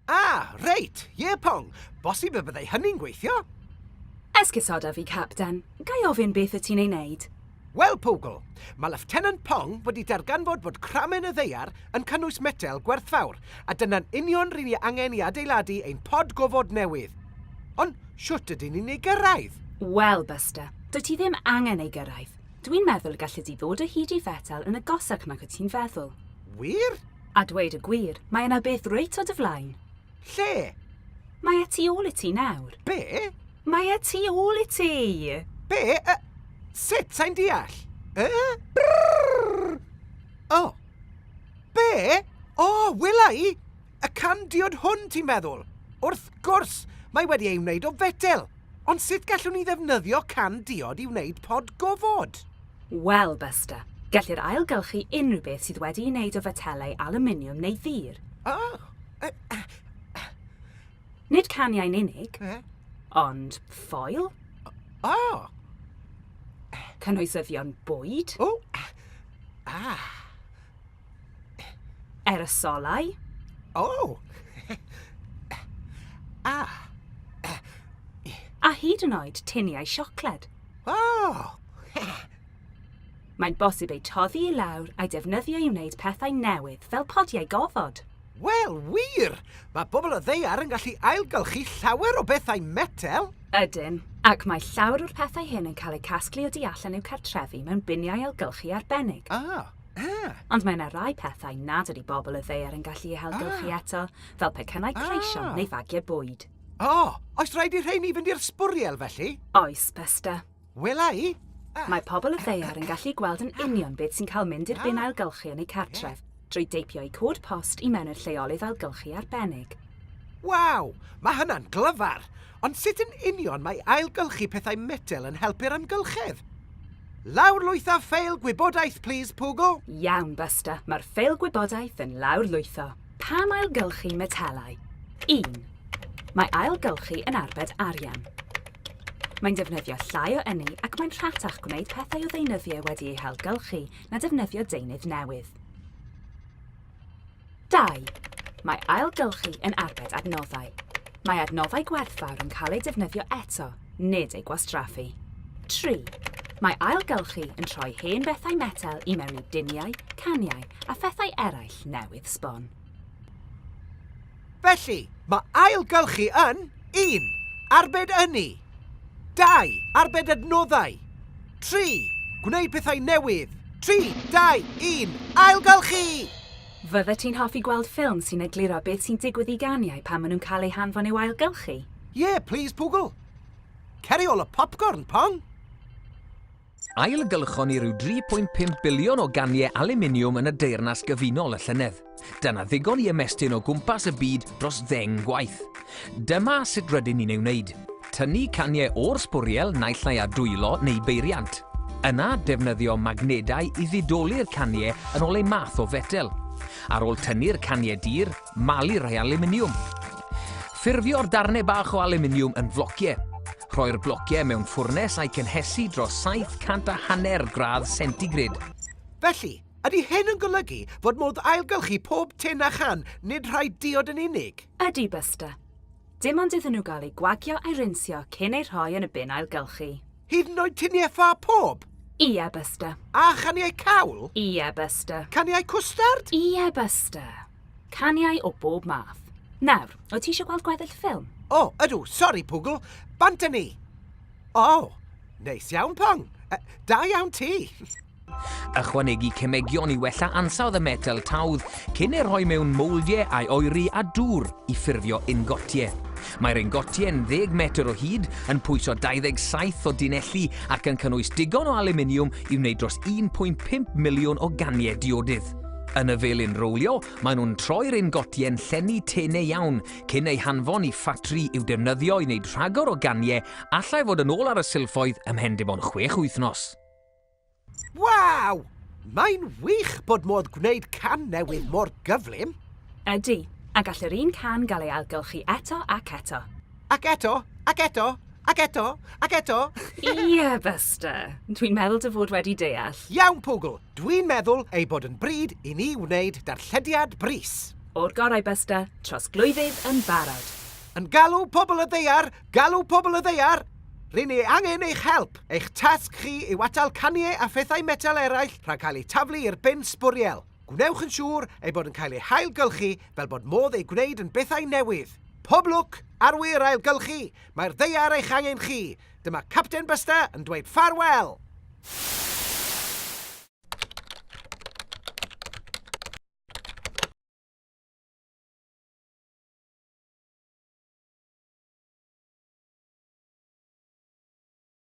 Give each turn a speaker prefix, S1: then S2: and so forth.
S1: Ah, reit, ie Pong, bosib y byddai hynny'n gweithio? Esgusoda
S2: fi, Capten. Ga i ofyn beth wyt ti'n ei wneud? Wel, Pogl,
S1: mae Leftenant Pong wedi darganfod fod cramen y ddaear yn cynnwys metel gwerthfawr, a dyna'n union ry'n ni angen i adeiladu ein pod gofod newydd. Ond shwt ydyn ni'n ei gyrraedd? Wel, Buster,
S2: dwyt ti ddim angen ei gyrraedd. Dwi'n meddwl y galli di ddod o hyd i fetel yn agosach nag wyt ti'n feddwl. Wir?
S1: A dweud y
S2: gwir, mae yna beth reit o dy flaen. Lle?
S1: Mae e
S2: tu ôl i ti nawr. Be? Mae
S1: e tu
S2: ôl i ti! Be? Uh,
S1: sut? Sa'n deall? Uh? Brrrr! Oh. Be? O, oh, wela i! Y can diod hwn, ti'n feddwl? Wrth gwrs! Mae wedi ei wneud o fetel! Ond sut gallwn ni ddefnyddio can diod i wneud pod gofod? Wel,
S2: Buster, gellir ailgylchu unrhyw beth sydd wedi'i wneud o fetelau alwminiwm neu ddur. O! Nid caniau'n unig, ond ffoil. O! Cynhwysyddion bwyd. O! Ah! Aerosolau. O! A! A hyd yn oed tuniau siocled. O! Mae'n bosib eu toddi i lawr a'i defnyddio i wneud pethau newydd, fel podiau gofod. Wel,
S1: wir! Mae pobl o ddaear yn gallu ailgylchu llawer o bethau metel. Ydyn,
S2: ac mae llawer o'r pethau hyn yn cael eu casglu o du allan i'w cartrefu mewn biniau ailgylchu arbennig. O! Ah! Ond mae yna rai pethau nad ydy bobl y ddaear yn gallu eu hailgylchu ah. eto, fel pecynnau cleision ah. neu fagiau bwyd. O, oh, oes rhaid
S1: i rheini fynd i'r sbwriel felly? Oes, Besta.
S2: Wela i. Ah.
S1: Mae pobl y
S2: ddaear yn gallu gweld yn union beth sy'n cael mynd i'r bin ailgylchu yn eu cartref, drwy deipio eu cod post i mewn i'r lleolydd ailgylchu arbennig. Waw,
S1: mae hynna'n glyfar! Ond sut yn union mae ailgylchu pethau metel yn helpu'r amgylchedd? Lawrlwytho ffeil gwybodaeth plîs, Poogle! Iawn, Buster,
S2: mae'r ffeil gwybodaeth yn lawrlwytho. Pam ailgylchu metelau? Un. Mae ailgylchu yn arbed arian. Mae'n defnyddio llai o ynni ac mae'n rhatach gwneud pethau o ddeunyddiau wedi eu hailgylchu na defnyddio deunydd newydd. 2. Mae ailgylchu yn arbed adnoddau. Mae adnoddau gwerthfawr yn cael eu defnyddio eto, nid eu gwastraffu. 3. Mae ailgylchu yn troi hen fethau metel i mewn i duniau, caniau a phethau eraill newydd sbon.
S1: Felly, mae ailgylchu yn, 1. Arbed ynni. 2. Arbed adnoddau. 3. Gwneud pethau newydd. 3, 2, 1, ailgylchu! Fyddet
S2: ti'n hoffi gweld ffilm sy'n egluro beth sy'n digwydd i ganiau pan maen nhw'n cael eu hanfon i'w ailgylchu? Yeah, please
S1: Poogle. Ceri ôl y popcorn, Pong! Ailgylchon
S3: ni ryw 3.5 biliwn o ganiau aluminiwm yn y Deyrnas Gyfunol y llynedd. Dyna ddigon i ymestyn o gwmpas y byd dros ddeng gwaith. Dyma sut rydyn ni'n ei wneud. Tynnu caniau o'r sbwriel naill ai â dwylo neu beiriant. Yna, defnyddio magnedau i ddidoli'r caniau yn ôl eu math o fetel. Ar ôl tynnu'r caniau dir, malu rhai aluminiwm. Ffurfio'r darnau bach o aluminiwm yn flociau. Rhoi'r blociau mewn ffwrnes a'i cynhesu dros 700 a hanner gradd centigrade. Felly,
S1: ydy hyn yn golygu fod modd ailgylchu pob tin a chan, nid rhai diod yn unig? Ydy, Buster.
S2: Dim ond iddyn nhw gael eu gwagio a'i rinsio cyn eu rhoi yn y bin ailgylchu. Hyd yn oed tuniau
S1: ffa pob? Ie, Buster.
S2: A chaniau
S1: cawl? Ie, Buster.
S2: Caniau cwstard?
S1: Ie, Buster.
S2: Caniau o bob math. Nawr, wyt ti eisiau gweld gweddill ffilm? O, ydw, sori,
S1: Pwgl. Bant â ni! O, neis iawn, Pong. Uh, da iawn ti. Ychwanegu
S3: cemegion i wella ansawdd y metel tawdd cyn ei rhoi mewn mouldiau a'i oeri a dŵr i ffurfio ingotiau. Mae'r ingotiau yn 10 metr o hyd, yn pwyso 27 o dunelli ac yn cynnwys digon o aluminiwm i wneud dros 1.5 miliwn o ganiau diodydd. Yn y felin rowlio, maen nhw'n troi'r ingotie'n llenni tenau iawn, cyn eu hanfon i ffatri i'w defnyddio i wneud rhagor o ganiau allai fod yn ôl ar y silffoedd ymhen dim ond chwech wythnos.
S1: Waw! Mae'n wych bod modd gwneud can newydd mor gyflym! Ydy,
S2: a gall yr un can gael ei ailgylchu eto ac eto. Ac eto,
S1: ac eto, ac eto, ac eto! Ie,
S2: Buster. Dwi'n meddwl dy fod wedi deall. Iawn, Pwgl!
S1: Dwi'n meddwl ei bod yn bryd
S2: i
S1: ni wneud darllediad brys! O'r
S2: gorau Buster, trosglwyddydd yn barod! Yn galw
S1: pobl y ddaear, galw pobl y ddaear! Ry'n ni angen eich help! Eich tasg chi yw atal caniau a phethau metel eraill rhag cael eu taflu i'r bin sbwriel. Gwnewch yn siŵr eu bod yn cael eu hailgylchu fel bod modd eu gwneud yn bethau newydd. Pob lwc! Arwyr ailgylchu! Mae'r ddaear eich angen chi! Dyma Capten Buster yn dweud ffarwel!